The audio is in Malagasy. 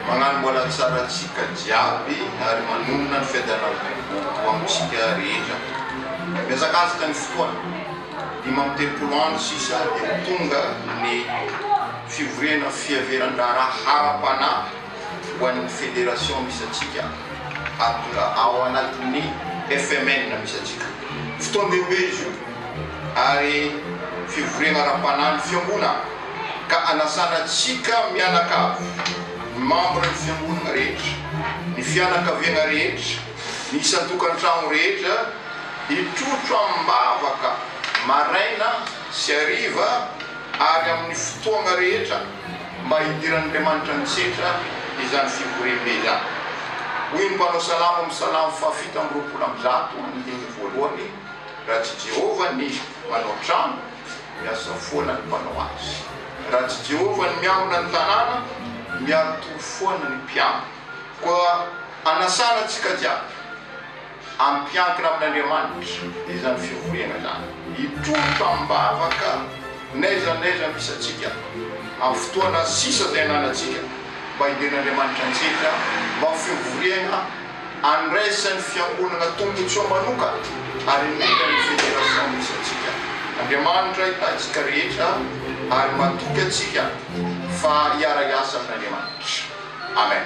Mañano mbola tsara antsika jiaby ary manonona ny fête de la République ho amintsika rehetra. Mihazakazaka ny fotoana, dimy amby telopolo andro sisa dia ho tonga ny fivoriana fiheveran-draharaha ara-panahy. ho an'ny Federation misy antsika ary tonga ao anatin'ny FMN misy antsika. Fotoan-dehibe izy io ary fivoriana ara-panahin'ny Fiangonana ka anasana antsika mianakavy, ny mambran'ny Fiangonana rehetra, ny fianakaviana rehetra, ny isan-tokantrano rehetra hitrotro amim-bavaka maraina sy hariva ary amin'ny fotoana rehetra. mba hidiran'Andriamanitra an-tsetra izany fivoriambe izany. Hoy ny mpanao salamo amin'ny salamo fahafito amby roapolo amby zato amin'ny teny voalohany, Raha tsy Jehovah ny manao trano, miasa foana ny mpanao azy. Raha tsy Jehovah ny miambina ny tanàna, miari-tory foana ny mpiambina. Koa anasana antsika jiaby. Hampiankina amin'Andriamanitra izany fivoriana izany. Hitroka am-bavaka n'aiza n'aiza misy antsika amin'ny fotoana sisa izay ananantsika mba hiden'Andriamanitra antsika mba ho fivoriana andraisan'ny fiangonana tombontsoa manokana ary indrindra ny fédération misy antsika. Andriamanitra hitahintsika rehetra ary matoky antsika fa hiara-hiasa amin'Andriamanitra. Amen.